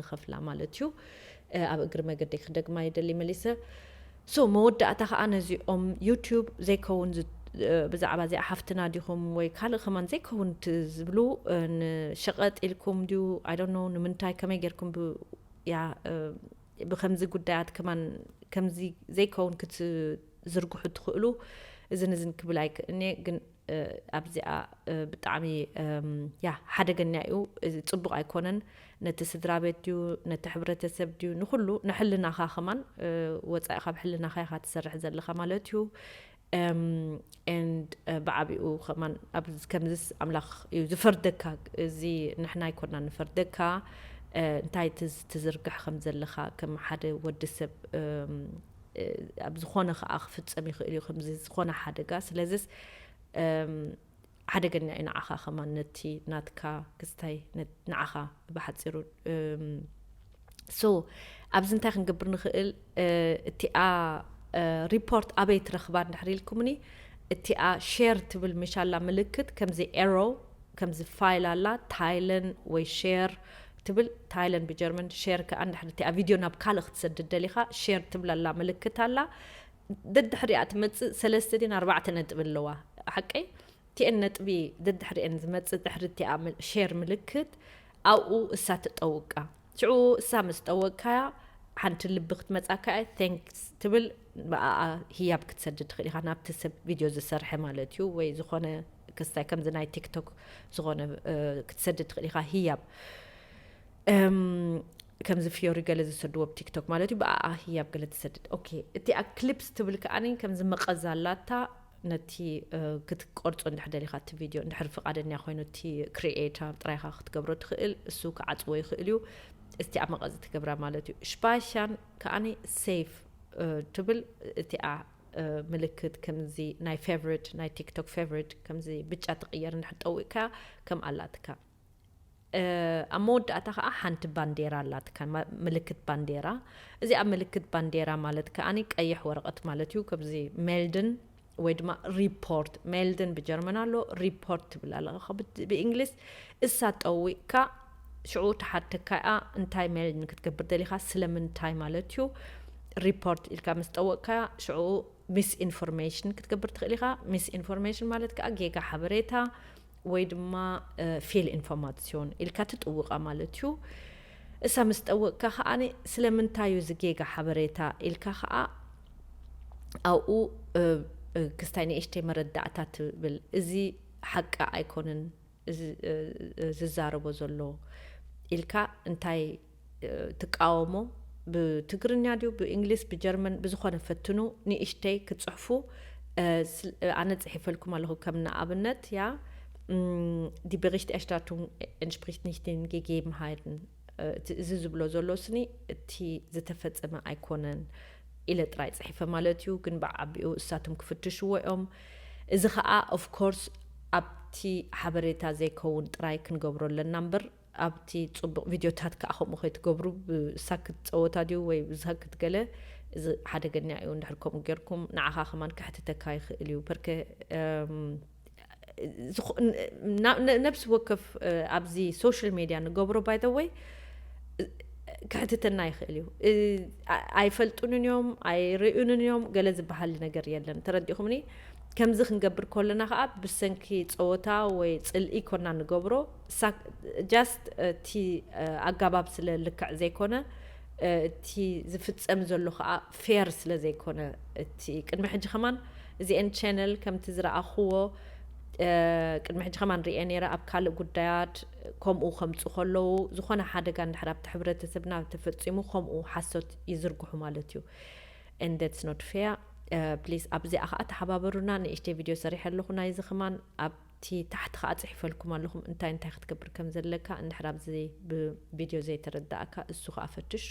ንኸፍላ ማለት እዩ ኣብ እግሪ መገደይ ክደግማ ይደሊ መሊሰ so መወዳእታ ከዓ ነዚኦም ዩቱብ ዘይከውን ዝ- ብዛዕባ እዚኣ ሓፍትና ዲኹም ወይ ካልእ ከማን ዘይከውን እቲ ዝብሉ ንሸቐጥ ኢልኩም ድዩ ኣይዶኖ ንምንታይ ከመይ ጌርኩም ብ- ያ ብከምዚ ጉዳያት ከማን ከምዚ ዘይከውን ክትዝርግሑ ትኽእሉ እዝን እዝን ክብል ኣይክእልንየ ግን ኣብዚኣ ብጣዕሚ ያ ሓደገኛ እዩ ፅቡቅ ኣይኮነን ነቲ ስድራ ቤት ድዩ ነቲ ሕብረተሰብ ድዩ ንኩሉ ንሕልናኻ ከማን ወፃኢ ካብ ሕልናኻ ኢኻ ትሰርሕ ዘለኻ ማለት እዩ ኤንድ ብዓቢኡ ከማን ኣብዚ ከምዚስ ኣምላኽ እዩ ዝፈርደካ እዚ ንሕና ኣይኮና ንፈርደካ እንታይ ትዝርግሕ ከም ዘለኻ ከም ሓደ ወዲ ሰብ ኣብ ዝኾነ ከኣ ክፍጸም ይኽእል እዩ ከምዚ ዝኾነ ሓደጋ ስለዚስ ሓደገኛ እዩ ንዓኻ ከማን ነቲ ናትካ ክስታይ ንዓኻ ብሓፂሩ ሶ ኣብዚ እንታይ ክንገብር ንኽእል እቲኣ ሪፖርት ኣበይ ትረኽባ እንድሕር ኢልኩምኒ እቲኣ ሼር ትብል ምሻላ ምልክት ከምዚ ኤሮ ከምዚ ፋይል ኣላ ታይለን ወይ ሼር ትብል ታይለን ብጀርመን ሼር ክኣ እንድሕር እቲኣ ቪድዮ ናብ ካልእ ክትሰድድ ደሊኻ ሼር ትብል ኣላ ምልክት ኣላ ደድሕሪኣ ትመጽእ ሰለስተ ድየን ኣርባዕተ ነጥቢ ኣለዋ ሓቀይ እቲኤን ነጥቢ ደድሕሪኤን ዝመጽእ ድሕሪ እቲኣ ሼር ምልክት ኣብኡ እሳ ትጠውቃ ሽዑ እሳ ምስ ጠወቅካያ ሓንቲ ልቢ ክትመጻካ እያ ቴንክስ ትብል ብኣኣ ህያብ ክትሰድድ ትኽእል ኢኻ ናብቲ ሰብ ቪድዮ ዝሰርሐ ማለት እዩ ወይ ዝኾነ ክስታይ ከምዚ ናይ ቲክቶክ ዝኾነ ክትሰድድ ትኽእል ኢኻ ህያብ ከምዚ ፍዮሪ ገለ ዝሰድዎ ብ ቲክቶክ ማለት እዩ ብኣኣ ህያብ ገለ ትሰድድ ኦኬ እቲ ኣ ክሊፕስ ትብል ከኣኒ ከምዚ መቐዝ ኣላታ ነቲ ክትቆርጾ እንድሕር ደሊኻ እቲ ቪድዮ እንድሕር ፍቓደኛ ኮይኑ እቲ ክሪኤተር ጥራይኻ ክትገብሮ ትኽእል እሱ ክዓጽዎ ይኽእል እዩ እስቲ ኣብ መቐዝ ትገብራ ማለት እዩ ሽፓሻን ከኣኒ ሴፍ ትብል እቲኣ ምልክት ከምዚ ናይ ፌቨሪት ናይ ቲክቶክ ፌቨሪት ከምዚ ብጫ ትቕየር እንድሕር ጠዊቕካ ከም ኣላትካ ኣብ መወዳእታ ከዓ ሓንቲ ባንዴራ ኣላትካ ምልክት ባንዴራ እዚኣ ምልክት ባንዴራ ማለት ከዓኒ ቀይሕ ወረቐት ማለት እዩ ከምዚ ሜልድን ወይ ድማ ሪፖርት ሜልድን ብጀርመን ኣሎ ሪፖርት ትብል ኣለኻ ብእንግሊዝ እሳ ጠዊቕካ ሽዑ ተሓተካ እያ እንታይ ሜልድ ንክትገብር ደሊኻ ስለምንታይ ማለት እዩ ሪፖርት ኢልካ ምስ ጠወቕካ ሽዑ ሚስ ኢንፎርሜሽን ክትገብር ትኽእል ኢኻ ሚስ ኢንፎርሜሽን ማለት ከዓ ጌጋ ሓበሬታ ወይ ድማ ፌል ኢንፎርማትስዮን ኢልካ ትጥውቓ ማለት እዩ። እሳ ምስ ጠወቕካ ከኣ ስለምንታይ እዩ እዚ ጌጋ ሓበሬታ ኢልካ ከኣ ኣብኡ ክስታይ ንእሽተይ መረዳእታ ትብል እዚ ሓቂ ኣይኮንን ዝዛረቦ ዘሎ ኢልካ እንታይ ትቃወሞ ብትግርኛ ድዩ ብእንግሊዝ ብጀርመን ብዝኾነ ፈትኑ ንእሽተይ ክትጽሕፉ ኣነ ጽሒፈልኩም ኣለኹ ከም ንኣብነት ያ ዲ ብሪሽት ኤርሽታቱንግ ኤንስፕሪሽት ኒሽት ን ጌጌብን ሃይትን እዚ ዝብሎ ዘሎ ስኒ እቲ ዝተፈጸመ ኣይኮነን ኢለ ጥራይ ጽሒፈ ማለት እዩ ግን ብዓቢኡ እሳቶም ክፍትሽዎ እዮም እዚ ከዓ ኦፍኮርስ ኣብቲ ሓበሬታ ዘይከውን ጥራይ ክንገብሮ ኣለና እምበር ኣብቲ ጽቡቅ ቪድዮታት ከኣ ከምኡ ከይትገብሩ ብሳክት ጸወታ ድዩ ወይ ብሳክት ገለ እዚ ሓደገኛ እዩ እንድሕር ከምኡ ጌርኩም ንዓኻ ከማን ከሕትተካ ይኽእል እዩ በርከ ነብሲ ወከፍ ኣብዚ ሶሻል ሜድያ ንገብሮ ባይ ዘ ወይ ክሕትተና ይኽእል እዩ ኣይፈልጡንን እዮም ኣይርእዩንን እዮም ገለ ዝበሃል ነገር የለን ተረዲኹምኒ ከምዚ ክንገብር ከለና ከዓ ብሰንኪ ፀወታ ወይ ፅልኢ ኮና ንገብሮ ሳክ ጃስት እቲ ኣጋባብ ስለ ልክዕ ዘይኮነ እቲ ዝፍጸም ዘሎ ከኣ ፌር ስለ ዘይኮነ እቲ ቅድሚ ሕጂ ከማን እዚኤን ቸነል ከምቲ ዝረኣክዎ ቅድሚ ሕጂ ከማን ሪኤ ነይረ ኣብ ካልእ ጉዳያት ከምኡ ከምጹ ከለዉ ዝኮነ ሓደጋ እንድሕር ኣብቲ ሕብረተሰብና ተፈጺሙ ከምኡ ሓሶት ይዝርግሑ ማለት እዩ and that's not fair ፕሊስ ኣብዚኣ ከኣ ተሓባበሩና ንእሽተይ ቪድዮ ሰሪሐ ኣለኩ ናይዚ ከማን ኣብ እቲ ታሕቲ ከኣ ጽሒፈልኩም ኣለኹም እንታይ እንታይ ክትገብር ከም ዘለካ እንድሕር ኣብዚ ብቪድዮ ዘይተረዳኣካ እሱ ከኣ ፈትሾ።